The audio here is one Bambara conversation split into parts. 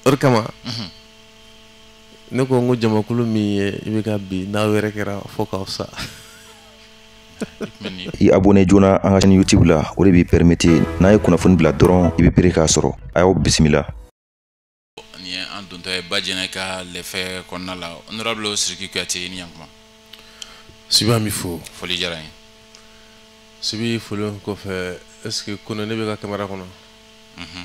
o de kama mhm. ne ko n ko jamakulu min ye i bɛ ka bi n'aw yɛrɛ kɛra fo k'aw sa i abonné joona an ka chaîne youtube la o de b'i permettre n'an ye kunnafoni bila dɔrɔn i bɛ pere k'a sɔrɔ a y'aw bisimila nin ye an dontɔ ye ba jɛnɛ ka lɛfɛ kɔnɔna la honorable siriki kuyate i ni ɲantuma sibi an b'i fo foli diyara n ye sibi foli kɔfɛ est ce que kone ne bɛ ka kamera kɔnɔ mhm.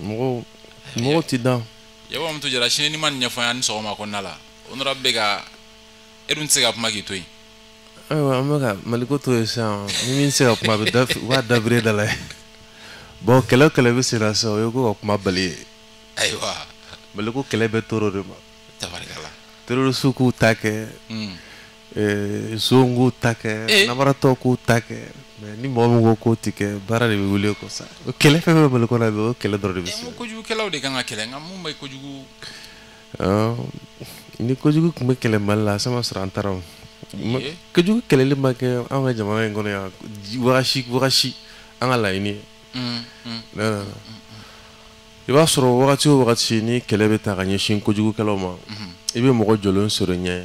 mɔgɔw mɔgɔw tɛ dan yɛbɔ mutu jara sini ni ma nin ɲɛfɔ an ye nin sɔgɔma kɔnɔna la honorable ka e dun tɛ se ka kuma k'i to yen ayiwa an bɛ ka maliko to yen sisan ni min se ka kuma a bɛ da u b'a dabiri da la ye bon kɛlɛ o kɛlɛ bɛ sen na sisan o ye ko ka kuma bali ye ayiwa maliko kɛlɛ bɛ toro de ma tabarikala terorisiw k'u ta kɛ Eh, zon k'u ta kɛ eh. namaratɔ k'u ta kɛ mais ni mɔgɔ min ko k'o tɛ kɛ baara de bɛ wuli o kɔ sa o kɛlɛ fɛn fɛn bɛ mali kɔnɔ bi o kɛlɛ dɔrɔn de bɛ se. kojugukɛlaw de kan ka kɛlɛ nka mun bɛ kojugu. ni kojugu tun bɛ kɛlɛ mali la sama sɔrɔ an taara o. kojugu kɛlɛli ma kɛ an ka jamana in kɔnɔ yan wagati wagati an ka laɲini ye. Mm, mm, mm, i b'a sɔrɔ wagati o wagati ni kɛlɛ bɛ ta ka ɲɛsin kojugukɛlaw ma i bɛ mɔgɔ jɔlen sɔrɔ i ɲɛ.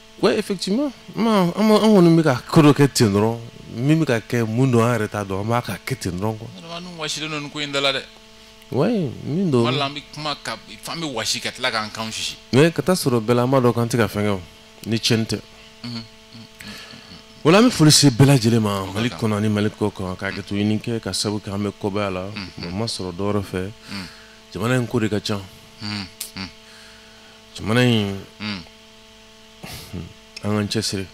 Oui, effectivement. An kɔni bɛ ka ko dɔ kɛ ten dɔrɔn min bɛ ka kɛ mun don an yɛrɛ t'a dɔn an b'a ka kɛ ten dɔrɔn quoi. Adamadenw wɔsilen don nin ko in da la dɛ. Oui, min don. Tuma dɔ la an bɛ kuma ka f'an bɛ wɔsi ka tila k'an kanw sisi. Mais ka taa sɔrɔ bɛɛ la an b'a dɔn k'an tɛ ka fɛn kɛ o ni tiɲɛni tɛ. Unhun. Voilà an bɛ foli se bɛɛ lajɛlen ma Mali kɔnɔ ani Mali kɔkan ka hakɛto ɲini kɛ ka sabu kɛ an bɛ kɔbaya la a ma sɔrɔ dɔ wɛrɛ fɛ jamana in ko de ka ca. Unhun. Jamana in. Unhun. an k'an cɛsiri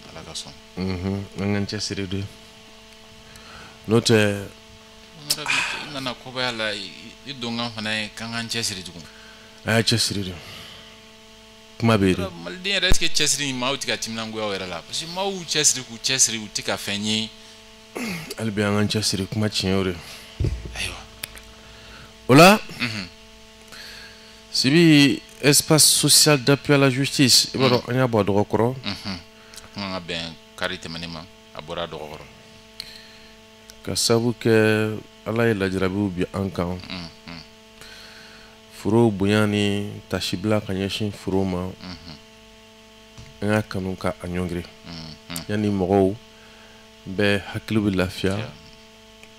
ala ka sɔn mhm, an k'an cɛsiri de n'o tɛ i nana kɔbaya la i donkan fana ye k'an k'an cɛsiri tugun a y'aw cɛsiri de kuma bɛ yen maliden yɛrɛ est ce que cɛsiri in maaw tɛ ka timinangoya o yɛrɛ la parce que maaw y'u cɛsiri k'u cɛsiri u tɛ ka fɛn ye hali bi an k'an cɛsiri kuma tiɲɛ o de ayiwa o la mhm. sibi espace social d'appui à la justice i b'a dɔn an y'a bɔ a dɔgɔ kɔrɔ kuma ka bɛn kari tɛmɛnen ma a bɔra a dɔgɔ kɔrɔ ka sabu kɛ ala ye lajarabiw bin an kan furew bonya ni tasibila ka ɲɛsin furew ma an y'a kanu ka an ɲɔngiri yanni mɔgɔw bɛɛ hakili bɛ lafiya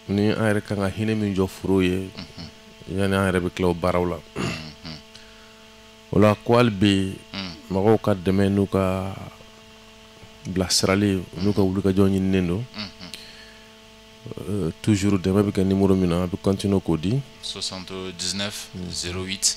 ni an yɛrɛ kan ka hinɛ min jɔ foro ye yani an yɛrɛ bɛ tila o baaraw la o la ko hali bi mɔgɔw ka dɛmɛ n'u ka bilasirali n'u ka wulikajɔ ɲininen don euh, toujours dɛmɛ bɛ kɛ numéro min na a bɛ continuer k'o di 79 08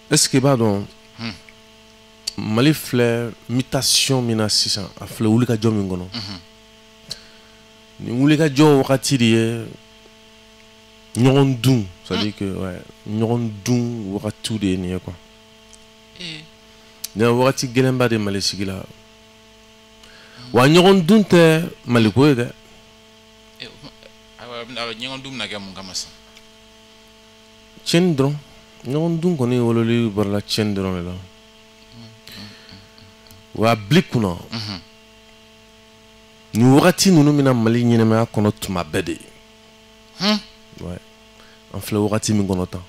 Est-ce que i b'a dɔn hmm. mali filɛ mutation min na sisan a filɛ wulikajɔ min kɔnɔ hmm. nin wulikajɔ wagati de ye ɲɔgɔn dun c'est à dire que ɲɔgɔn dun wagatiw de ye nin ye quoi eh. nin wagati gɛlɛnba de mali sigi la wa ɲɔgɔn dun tɛ maliko ye dɛ eh, ɲɔgɔn dun bɛna kɛ mun kama sisan tiɲɛni dɔrɔn ɲɔgɔn dun kɔni wololi barala tiɲɛni dɔrɔn de la wa bili kunna nin wagati ninnu bɛ na mali ɲɛnamaya kɔnɔ tuma bɛɛ de an filɛ wagati min kɔnɔ tan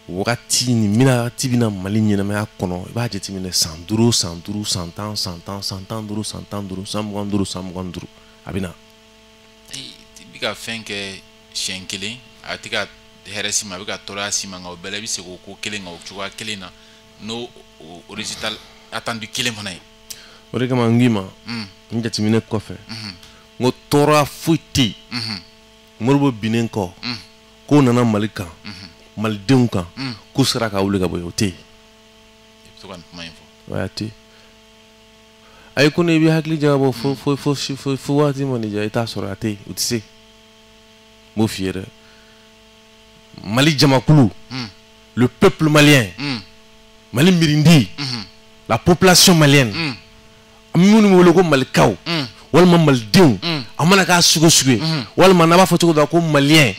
wagati nin mina de bɛ na mali ɲɛnamaya kɔnɔ i b'a jateminɛ san duuru san duuru san tan san tan san tan duuru san tan duuru san mugan duuru san mugan duuru a bɛ na i bɛ ka fɛn kɛ siɲɛ kelen a tɛ ka hɛrɛ s'i ma a bɛ ka tɔɔrɔya s'i ma nka o bɛɛ la i bɛ segin o ko kelen kan o cogoya kelen na n'o o résultat attendu kelen fana ye. o de kama n k'i ma mm. n jateminɛ kɔfɛ mm-hmm. n ko tɔɔrɔya foyi tɛ yen mm-hmm. modibo binnen kɔ mm. k'o nana mali kan mm-hmm. malidenw kan mm. k'u sera ka wuli ka bɔ yen o tɛ yen. i bɛ to ka nin kuma in fɔ. a tɛ yen. ayi ko n'i bɛ hakili jagabɔ fo fo fo fo waati ma nin diya i t'a sɔrɔ a tɛ yen u tɛ se. n b'o f'i ye dɛ mali jamakulu hmm. le peuple malien hmm. mali mirindi hmm. la population malienne an minnu bɛ wele ko malikaw walima malidenw a mana k'a sugu o sugu ye walima n'a b'a fɔ cogo dɔ la ko malien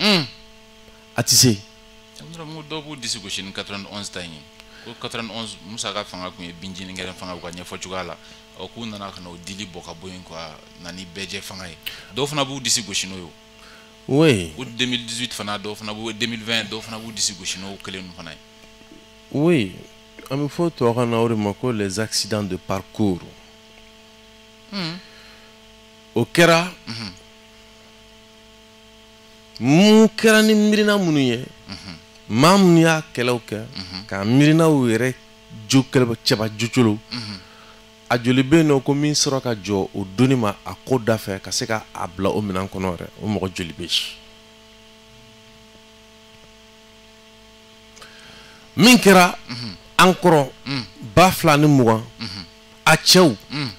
a tɛ se. dɔw b'u disi gosi ni 91 ta in ye ko 91 musa ka fanga tun ye binjini gɛrɛntɛ fanga u ka ɲɛfɔ cogoya la ɔ k'u nana ka na o dili bɔ ka bɔ yen ka na ni bɛɛjɛ fanga ye dɔw fana b'u disi gosi n'o ye oui o 2018 fana dɔw fana b'u 2020 dɔw fana b'u disi gosi n'o kelen ninnu fana ye oui an bɛ fɔ tubabukan na o de ma ko les accidents de parcours hmm. o kɛra mhm. mun kɛra ni miirina minnu ye mhm. maa minnu y'a kɛlɛw kɛ mhm. ka miirinaw yɛrɛ jo cɛba jocolo mhm. a joli bɛ yen nɔ ko min sɔrɔ ka jɔ o doni ma a ko da fɛ ka se ka a bila o minɛn kɔnɔ yɛrɛ o mɔgɔ joli bɛ yen min kɛra mhm. an kɔrɔ mhm. ba fila ni mugan a cɛw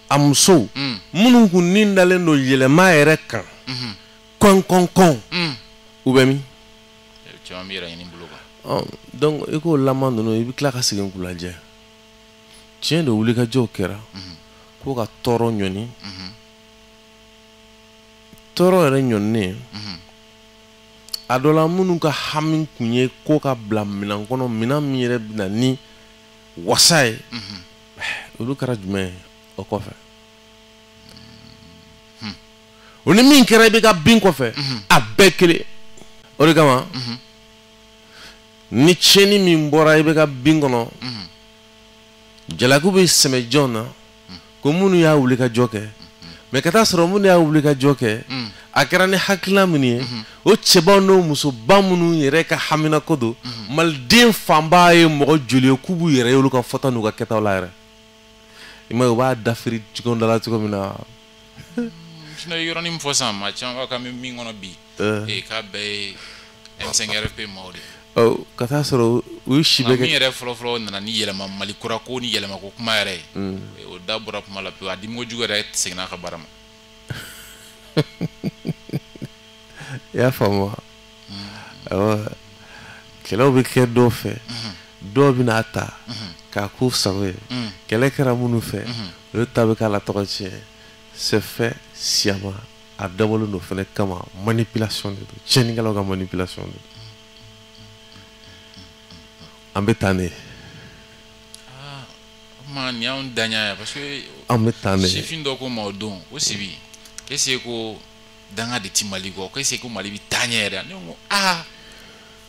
a musow minnu kun ni dalen don yɛlɛma yɛrɛ kan kɔnkɔnkɔn u bɛ min caman bɛ yɛrɛ ɲini bolo kan ɔ donc i k'o laban ninnu i bɛ tila ka segin k'u lajɛ tiɲɛ don wulikajɔw kɛra mhm. ko ka tɔɔrɔ ɲɔni mhm. tɔɔrɔ yɛrɛ ɲɔninen mhm. a dɔ la minnu ka hami kun ye ko ka bila minɛn kɔnɔ minɛn min yɛrɛ bɛna ni wasa ye olu kɛra jumɛn ye o kɔfɛ o ni min kɛra ibk bin kɔfɛ mhm. a bɛɛ kelen o de kama mhm. ni tiɲɛni min bɔra ibk bin kɔnɔ mhm. jalaku bɛ sɛmɛ jɔn na ko minnu y'a wulikajɔ kɛ mais ka t'a sɔrɔ minnu y'a wulikajɔ kɛ a kɛra ni hakilina minnu ye o cɛbaw n'o musoba minnu yɛrɛ ka haminako don maliden fanba ye mɔgɔ joli ye k'u b'u yɛrɛ ye olu ka fɔta n'u ka kɛtaw la yɛrɛ i ma ye u b'a dafiri ɲɔgɔn da la cogo min na sinon i ye yɔrɔnin min fɔ sisan maa caman b'a ka bɛ min kɔnɔ bi ee k'a bɛɛ ye m5 rfp maaw de ye ka t'a sɔrɔ u ye si bɛ kɛ min yɛrɛ fɔlɔfɔlɔ nana ni yɛlɛma mali kura ko ni yɛlɛma ko kuma yɛrɛ ye mm. o da bɔra kuma la pewu a dimi kojugu yɛrɛ seginna a ka baara ma i y'a faamu wa mm-hmm. kɛlɛw bɛ kɛ dɔw fɛ mm-hmm. dɔw bɛ n'a ta mm-hmm. k'a k'u sago ye mm. kɛlɛ kɛra minnu fɛ olu ta bɛ k'a la tɔgɔ tiɲɛ c'est fait sciemment a dabɔlen don fɛnɛ kama manipulation de don tiɲɛnikɛlaw ka manipulation de don an bɛ taa ne ye ah, ma nin y'anw danga ye parce que an bɛ taa ne ye sifin dɔ ko n ma o don ko sibi k'est-ce que danga de ti mali kɔ ko est-ce que mali bi taa ɲɛ yɛrɛ ne ko aa ah,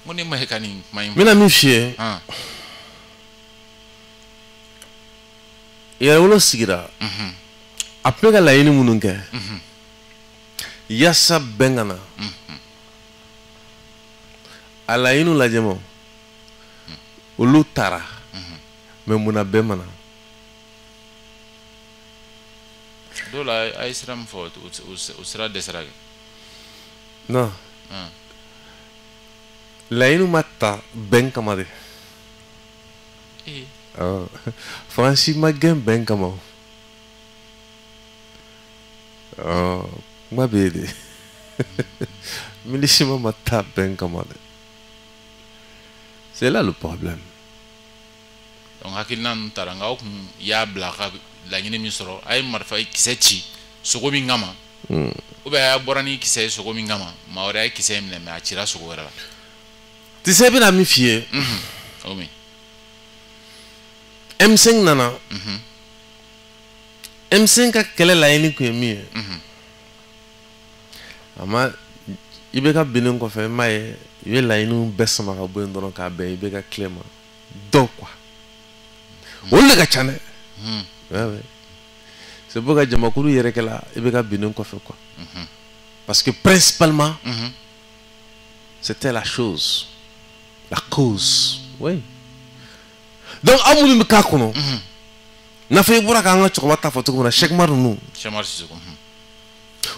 n ko ne ma ye ka nin kuma in n bɛna min f'i ye yɛrɛwolo sigira a bɛ ka laɲini minnu kɛ yaasa bɛn ka na a laɲiniw lajɛ ma olu tara mais munna bɛn ma na dɔw la a ye sira min fɔ o sira dɛsɛra kɛ non laɲini ma ta bɛn kama de faransi ma gɛn bɛn kama o kuma bɛ yen de minusma ma taa bɛn kama de c'est là le problème donc hakilina ninnu taara nka aw kun y'a bila a ka laɲini min sɔrɔ a ye marifa kisɛ ci sogo min kama hmm. ou bien a bɔra ni kisɛ ye sogo min kama maa wɛrɛ ye kisɛ in minɛ mais a cira sogo wɛrɛ la tisɛ bɛna min f'i ye mhm. o min M5 nana mhm. M5 ka kɛlɛ laɲini kun ye min ye mhm. a ma IBK binnen kɔfɛ i m'a ye i bɛ laɲiniw bɛɛ sama ka bɔ yen dɔrɔn k'a bɛn IBK kelen ma dɔrɔn quoi olu de ka ca dɛ hmm. ouais, ouais. c'est pourquoi jamakulu yɛrɛkɛla IBK binnen kɔfɛ quoi mhm. parce que principalement mhm. c'était la chose la cause oui donc aw minnu bɛ k'a kɔnɔ mhm. n'a fɔ i bɔra k'an ka cɛkɔrɔba ta fɔ cogo min na Sɛki Umaru ninnu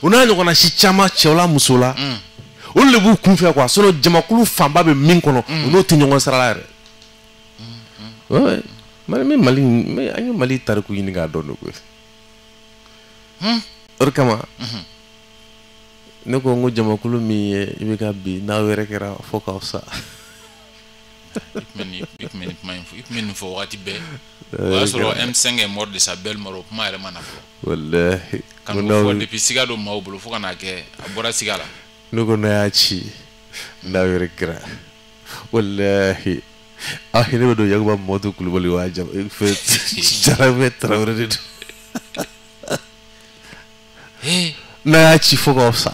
u n'a ɲɔgɔnna si caman cɛw la muso la mm. olu de b'u kun fɛ quoi sinon jamakulu fanba bɛ min kɔnɔ mm. u n'o tɛ ɲɔgɔn sira la yɛrɛ mm, Mali min Mali an ye Mali tariku ɲini k'a dɔn de koyi hmm? o de kama mm-hmm. ne ko n ko jamakulu min ye IBK bin n'aw yɛrɛkɛra fo k'aw sa i tun bɛ nin kuma in fɔ i tun bɛ nin fɔ wagati bɛɛ o y'a sɔrɔ M5 est mort de sa belle mort o kuma yɛrɛ ma na fɔlɔ walahi ka n'o fɔ depuis siga don maaw bolo fo ka n'a kɛ a bɔra siga la ne ko n'a y'a ci n'a yɛrɛkɛra walahi a hinɛ bɛ don Yakuba Mamadu Kulubali wa fɛ Jarabe Tarawele de don n'a y'a ci fo k'aw sa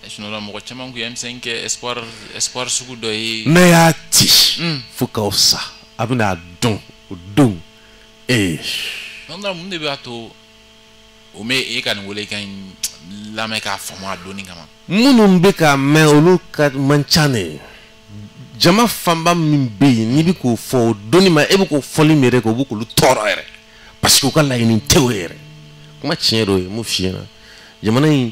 sinon là mɔgɔ caman kun ye M5 kɛ espoir espoir sugu dɔ ye n'a y'a ci mm. fo k'aw sa a bɛna a dɔn o don ee nana mun de b'a to o mɛ e ka nin welekan in lamɛn k'a faamu a dɔnni kama minnu bɛ k'a mɛn olu ka man ca dɛ jama fanba min bɛ yen n'i bɛ k'o fɔ o donni ma e bɛ k'o fɔli min yɛrɛ kɛ o bɛ k'olu tɔɔrɔ yɛrɛ parce que u ka laɲini tɛ o yɛrɛ kuma tiɲɛ dɔ ye mun f'i ɲɛna jamana in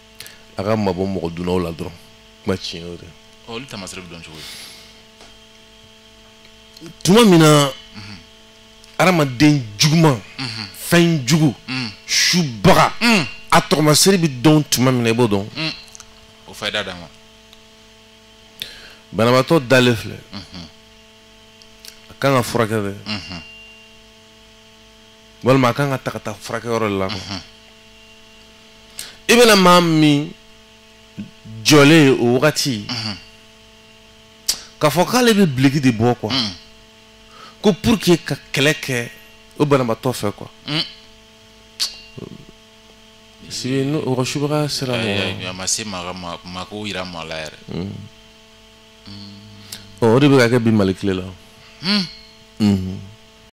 a ka mabɔ mɔgɔ dunnaw la dɔrɔn kuma tiɲɛ o de olu tamasere bɛ dɔn cogo di tuma min na hadamaden juguman fɛn jugu subaga a tɔgɔmasere bɛ dɔn tuma min na i b'o dɔn o fayida d'a ma banabaatɔ dalen filɛ a kan ka furakɛ dɛ walima a kan ka ta ka taa furakɛyɔrɔ de la quoi mhm. i bɛna maa min jɔlen ye o wagati mhm. k'a fɔ k'ale bɛ biliki de bɔ quoi mhm. ko pour que ka kɛlɛ kɛ o banabaatɔ fɛ quoi o ka subaga sera mɔgɔ a ma se maa ka maa ko yira maa la yɛrɛ o de bɛ ka kɛ bi mali tile la